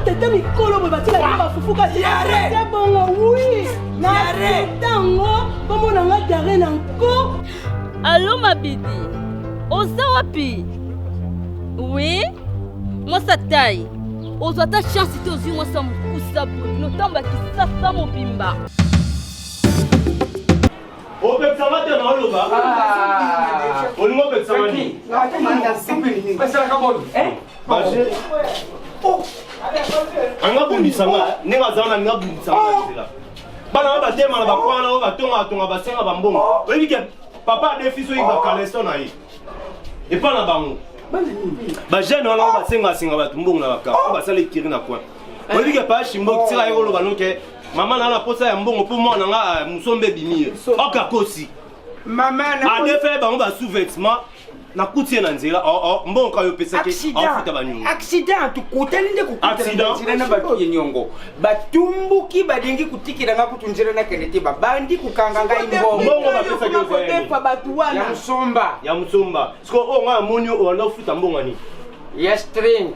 tete mikolo boye batika yango bafufu kasi bongo wi na tango bomona nga diare na nko Alo Mabidi, oza wapi? Oui, mwasa tai, ozwa ata chance te ozwi mwasa mokusa boye, notamba kisasa mobimba. opekisama te na oloba olingi opekisama nini anga bundisanga ndenge azala na nga bundisanga bana ba batema na bakwana na bango batonga batonga basenga bambongo oyebi ke papa adefi soki bakaleso na ye epa na bango bajeune wana basengasenga bato mbongo na baka o basala ekiri na coin oyebi ke papa shimbo tika ye koloba noke mama na na posa ya mbongo mpo mwana nga ah, mosombe ebimi ye okakosi adefe bango ba sous-vêtement nakuti ye na nzela oh, oh, mbongo ayo opesaki afuta banyongo accident tukutani nde kokutana na bato ye nyongo batumbuki balingi kotikela nga kutu nzela nakende te babandi kokanga ngai mbongo bapesakidefa bato wana ya mosomba ya mosomba sikoyo oyo oh, ngai amoni oyo anda ofuta mbongo ani ya string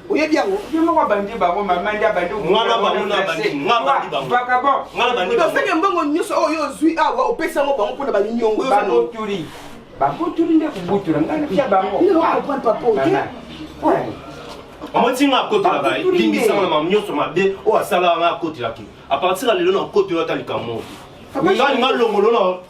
oyebi yango ye moko abandi bango mama nde abandi osenge mbongo nyonso oyo ozwi awa opesi yango bango mpona banyongo yobotuli babotuli nde kobutula ngai napia bango omotinga akotela baye limbisanga mama nyonso mabe oyo asalaka ngai akotelaki apartir ya lelo na kotoyo ata likambo oyo ngai linga longolo na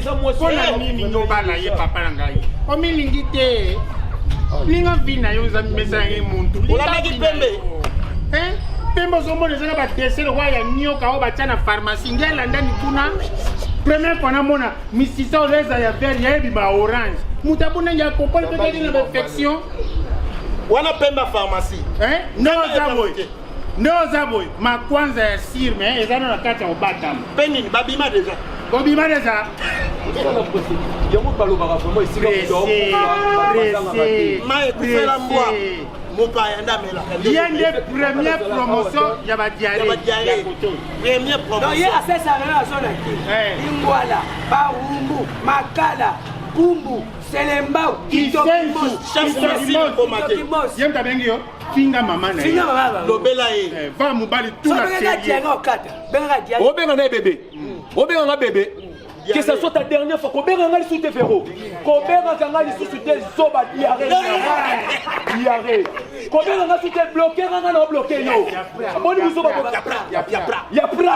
mpona nini loba na ye papa na ngai omilingi te ninga vi na yo eza mimesana ye muntu olamaki pembe pembe ozomona eza na badese lokola ya nioka oyo batya na pharmacie nde alandani kuna premier fois namona misisa oyo eza ya vert yayebi ba orange moto abona ya kopoli mpe kaki na bainfection wana pembe ya pharmacie non eza boye nde oza boye makwanza ya sir me eza na na kati ya obatama mpe nini babima deja bobima deja yango balobaka vraimen esika mai ekufela mbwa mopaya nde amelaka ye nde premier promotion ya badiare premier promotion ye asesaka na azonaki ingwala barumbu makala kumbu selembao kitokimos ye mtabengi yo finga mama na ye lobela ye eh, va mobali tuna obenga na ye bebe mm. obenga nga bebe que ça soit ta dernière fois kobenga nga lisusu te vero kobengaka nga lisusu te zoba diare diare kobenga nga lisusu te bloke nga nga na obloke yo boni bizoba ya pra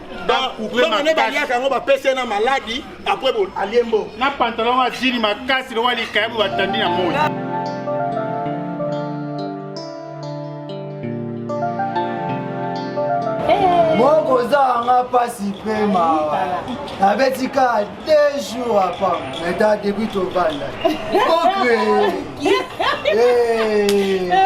mbongo nde baliaka yango bapesi ye na maladi apres alie mbongo na pantalon ya jini makasi lokola likayabu batandi na moi mokozanga mpasi mpe mawa nabeti kaka deux jours apa meta depuis tobanda okree eh. eh, eh,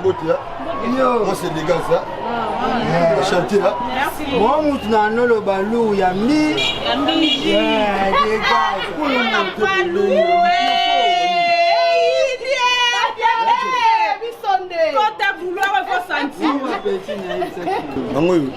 mbote ose degage chantier mwa mutu na noloba lu ya mbi yango oyo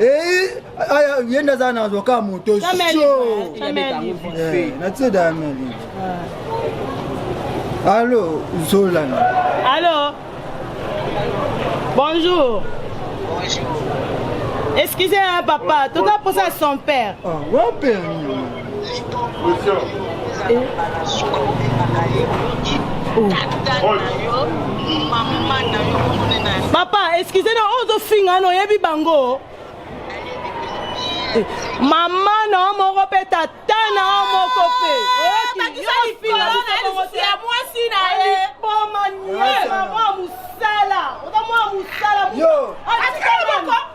Eh, aya ye nde aza na avocat moto so natida ya meli allo zolana allo bonjour excusez papa toza mposa son père ah, wa père papa eskize na oyo ozofinga na oyebi bango eh, mama na yo moko mpe tata na yo moko mpe mosala oza mwa mosala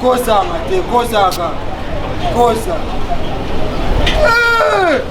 Cosa, Mateo, cosa, cosa.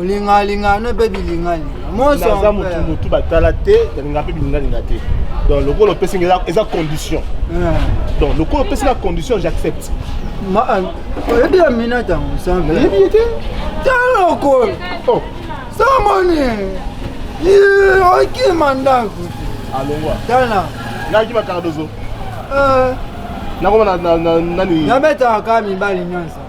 olingalinga no mpe bilingalinga mosoaza motu motu batala te nalinga mpe bilingalinga te donc lokola opesi nga eza condition eh. donc lokola opesi nga condition j'accepte eh, oyebi ya mina ntango nsambe yebi ye te talokolo oh. samoni okima ndako alongwa tala naki bakaka dozo eh. nakoma nani nabetaka mibali nyonso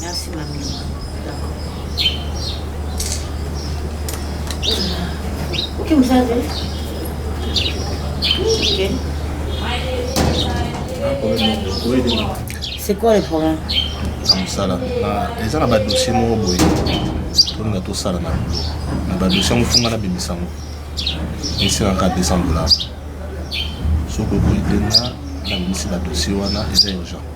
Merci ma mimi. D'accord. Ok, vous savez. Ok. C'est quoi le problème? na mosala eza na badossier moko boye tolinga tosala na bulo na badossier yango funga na bimisa yango esilaka 200 dollars soki okoki te na na bimisi badossier wana eza urgent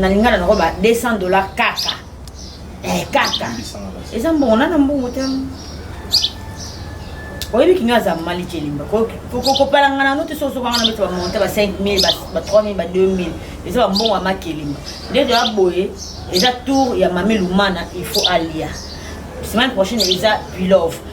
na lingala nako ba 200 dollars kaka eh, kaka eza mbongo na na mbongo te oyebi kinyo aza mali celimba kopalanga na note soki ozokanga na beti bamonte ba 5000 ba 3000 ba 2000 eza bambongo ya makelimba nde toya boye eza tour ya mami lumana il faut alia semaine prochaine eza pilove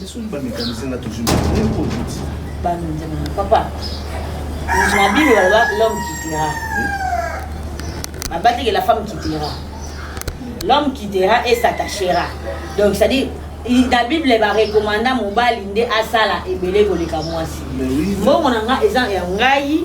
Lisuni ba mécanicien na toujours bien pour vous. Ba ndema papa. Na Bible baloba l'homme quittera. Abati que la femme quittera. L'homme quittera et s'attachera. Donc ça dit na bible barekomanda mobali nde asala ebele koleka mwasi mbongo na ngai eza ya ngai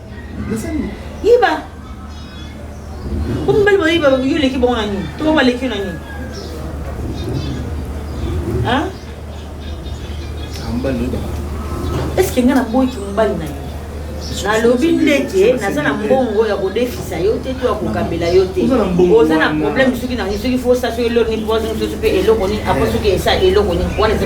nasani yiba omibali bayiba yo oleki bango na nini to baleki yo na nini eske ngai naboyiki mobali na yo nalobi ndeke naza na mbongo ya kodefisa yo te to ya kokabela yo te oza na problème soki na soki fosa soki eloko nini poison soki mpe eloko nini apo soki esa eloko nini wana eza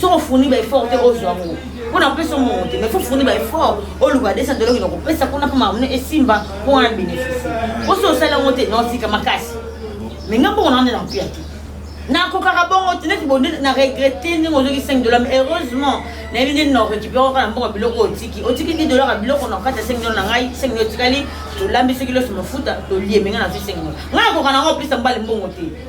soki ofuni ba effort te ozwa yango mpo na kopesa omongo te mais fo ofuni ba effort oluka 200 dola okende kopesa kuna mpo mamune esimba mpo wana bénéficie mpo soki osali yango te naotika makasi mais nga mbongo naonde na mpiya te nakokaka bongo te neti bonde na regrete ndenge ozoki 5 dola mais heureusement nayebi ndeni na récupéré oka na mbongo ya biloko otiki otiki 10 dolar ya biloko na kati ya 5 dola na ngai 5 dola otikali tolambi soki loso mafuta tolie menga nazwi 5 dola ngai nakoka na yango opesa mbali mbongo te